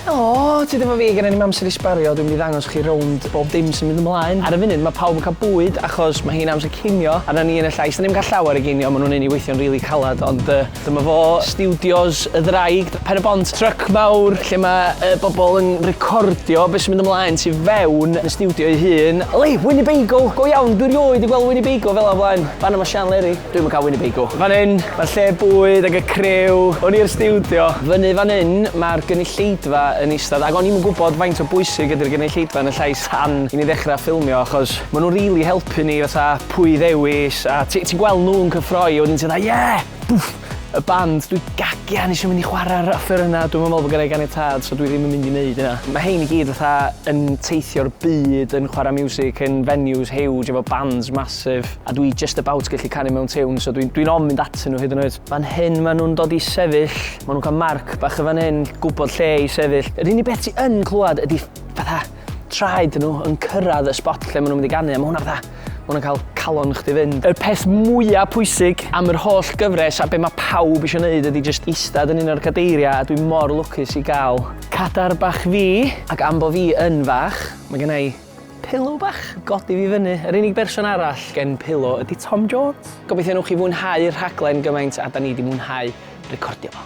Helo, ti ddim yn fi, gen i ddim amser i sbario, dwi'n mynd i ddangos chi rownd bob dim sy'n mynd ymlaen. Ar y funud mae pawb yn cael bwyd achos mae hi'n amser cinio a na ni yn y llais dan ni'm yn cael llawer o ginio, maen nhw'n neud ni weithio'n rili calad ond yy dyma fo, stiwdios y ddraig, Pen-y-bont, tryc mawr lle mae y bobl yn recordio be sy'n mynd ymlaen tu fewn yn y stiwdio ei hun. Helo, Winnebago, go iawn, dwi 'rioed 'di gweld Winnebago fela o blaen, fan'na mae Sian Leri. Dwi'm yn cael Winnebago. Fan hyn, mae'r lle bwyd ac y criw. Hwn i'r stiwdio. Fyny fan hyn, mae'r gynulleidfa yn eistedd ac o'n i'm yn gwybod faint o bwysig ydy'r gynulleidfa yn y llais tan i ni ddechrau ffilmio achos maen nhw'n rili helpu ni fatha pwy i ddewis a ti- ti'n gweld nhw'n cyffroi a wedyn ti fatha 'ie! Bwff! Y band, dwi gagian eisiau mynd i chwarae'r offerynnau, dwi'm yn meddwl bod gynna i ganiatâd so dwi ddim yn mynd i wneud hynna. Mae rhein i gyd fatha yn teithio'r byd yn chwarae miwsig yn venues huge efo bands massive. A dwi just about gallu canu mewn tiwn, so dwi'n dwi ofn mynd atyn nhw hyd yn oed. Fan hyn maen nhw'n dod i sefyll, maen nhw'n cael marc bach yn fan hyn, gwybod lle i sefyll. Yr unig beth ti yn clywed ydy fatha traed nhw yn cyrraedd y spot lle maen nhw'n mynd i ganu, a mae hwnna fatha, mae hwnna'n cael calon chdi fynd. Yr peth mwyaf pwysig am yr holl gyfres a be mae pawb eisiau gwneud ydy just eistedd yn un o'r cadeiriau a dwi mor lwcus i gael cadar bach fi, ac am bo fi yn fach, mae gennau Pillow bach! Godi fi fyny! Yr unig berson arall gen Pillow ydi Tom Jones! Gobeithio newch chi fwynhau'r rhaglen gymaint a 'da ni 'di mwynhau recordio fo.